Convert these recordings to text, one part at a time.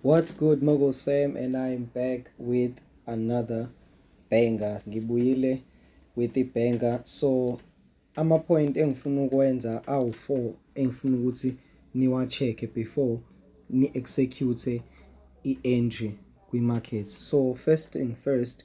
What's good Mogo Sam and I am back with another banger. Ngibuyile with the banger. So ama point engifuna ukwenza awu 4 engifuna ukuthi niwa check before ni execute i entry kwi market. So first and first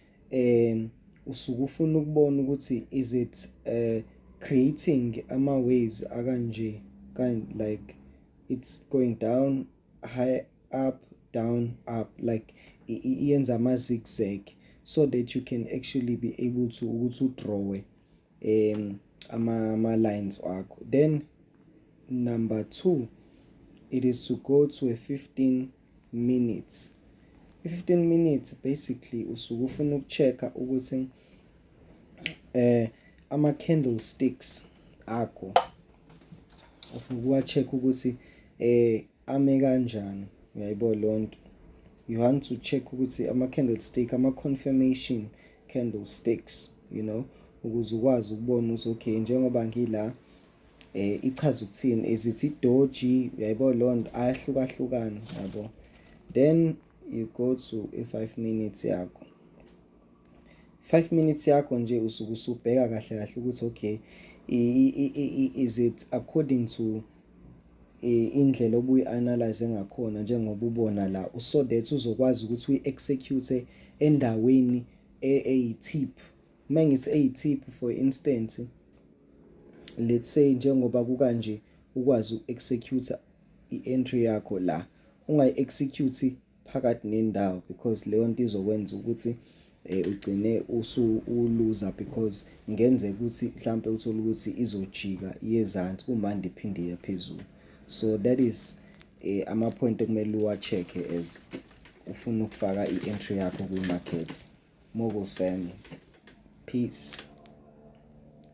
um usuke ufuna ukubona ukuthi is it uh, creating ama-waves akanje kind like it's going down high up down up like yenza ama-zigzag so that you can actually be able to ukuthi udrawe um ama-lines wakho then number two it is to go to a 15 minutes i-15 minutes basically usuke ufuna ukucheck-a ukuthi eh ama-candlesticks akho ufuna ukuwa-check ukuthi eh Ame kanjani uyayibona lonto you want to check ukuthi ama candlestick ama confirmation candlesticks you know ukuze ukwazi ukubona ukuthi okay njengoba ngila eh ichaza ukuthini is it idoji uyayibona lonto ayahlukahlukana yabo then you go to a 5 minutes yakho 5 minutes yakho nje usuke usubheka kahle kahle ukuthi okay is it according to eh, indlela obuyi-analyze ngakhona njengoba ubona la so that uzokwazi ukuthi uyi-execute endaweni e, eyi-tip uma ngithi eyi-tip for instance let's say njengoba kukanje ukwazi uku-execute i-entry yakho la ungayi-execute phakathi nendawo because leyo nto izokwenza ukuthi eh, ugcine usu uluza because ngenze ukuthi mhlampe uthole ukuthi izojika yezansi uma ndiphinde iye phezulu so that is eh, ama point ekumele uwacheck as ufuna ukufaka i-entry yakho kwi-markets moguls family peace